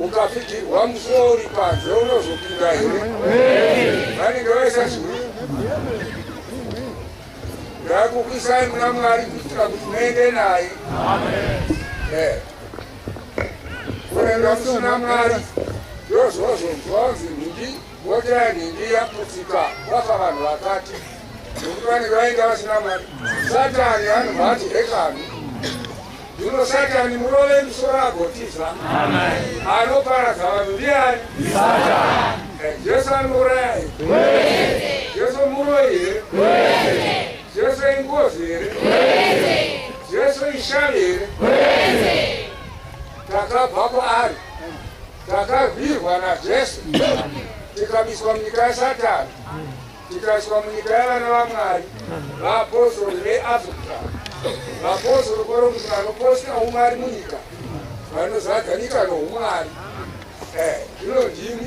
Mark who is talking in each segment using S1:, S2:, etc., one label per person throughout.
S1: ukapfigirwa musuwo uri panze unozopinda here vanenge vaisazvii ndakukwisai muna mwari kuitira kuti muende naye eh. kuenda kusina mwari ndozvozvonzwanzi nhindi Mota nhingi yaputsika kwafa vanhu vakati nokuti vanenge vainga vasina mari. Satani anobva ati hekani zvino satani murove misoro agotiza anoparadza vanhu ndiani? Eh, Jesu anouraya here? Jesu muroi here? Jesu ingozi here? Jesu ishavi here? Takabva kwaari Takarwirwa naJesu tikabiswa munyika yaSatani tikaiswa munyika yavana vaMwari vaapostori veAfrica vapostori koro kuti vanoposta umwari munyika vanozadza nyika noumwari eh, zvino ndimi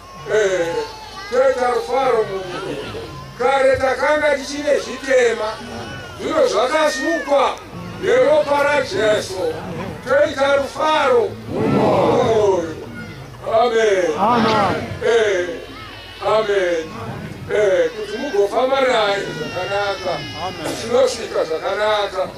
S1: Eh, toita rufaro munhu kare takanga tichine zvitema zvino zvakasukwa neropa rajesu toita rufaro mumwoyo amen Eh, amen Eh, kuti mugofamba naye zvakanaka tinosvika zvakanaka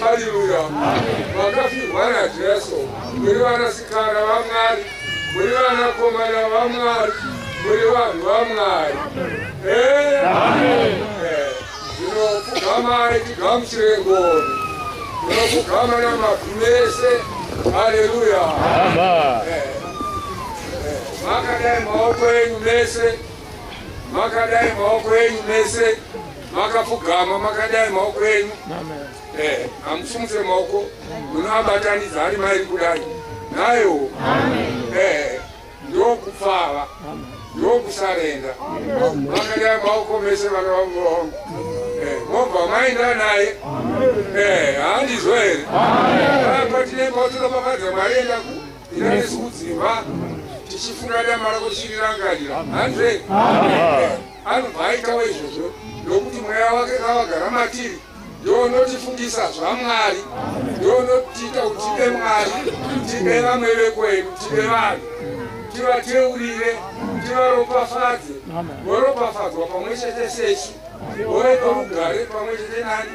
S1: Haleluya. Vakafirwa naJesu. Muri vanasikana vaMwari. Muri vanakomana vaMwari. Muri vanhu vaMwari. Eh? Eh, Zvino pfugamai tigamuchire ngoni. Munopfugama namabvi mese. Haleluya. Eh, eh, Makadai maoko enyu mese. Makadai maoko enyu mese. makapfugama makadai maoko enyu eh, hamusimuse maoko munoabatanidza ari mairi kudai nayo eh, ndokupfava ndokusarenda makadai maoko mese vana vangu vangu eh, mobva maenda naye handizvo here patine mautinopafadza mwari enda ku ina nesu kudzimba tichifunga dama rako chirirangarira handizvo here Anobva aitawo izvozvo, nokuti Mweya wake kavagara matiri, ndiwo unotifungisa zvaMwari, ndiwo unotiita kuti tibe Mwari, tibe vamwe vekwedu, tibe vanhu, tivateurire, tivaropafadze, voropafadzwa pamwe chete sesu, vove norugare pamwe chete nani.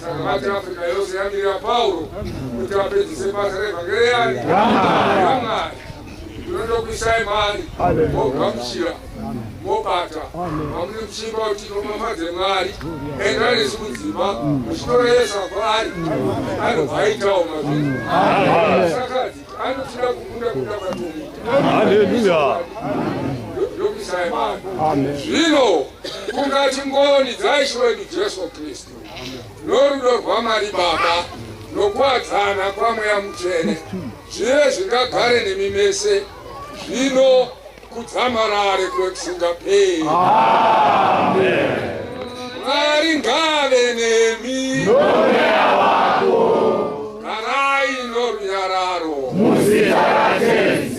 S1: Saka mati Africa yose yamirira Pauro kuti apedzise basa revhangeri yani yamwari ndinotokuisai mari mogamuchira mobata mamune muchimba kuti nomafadze mwari enda nesu mudzimba muchitoreyesa kwaari anobva aitawo mazvinhu sakadzi anotida kukunda kuda kwatomita
S2: ndokuisai
S1: mari zvino kungati ngoni dzaishiwedu jesu kristu norudo rwamari baba nokuwadzana kwamweya mutsvene zvive zvingagare nemi mese zvino kudzamarare kwekusingaperi mwari ngave nemi nomweya wako garai norunyararo muzita rajesu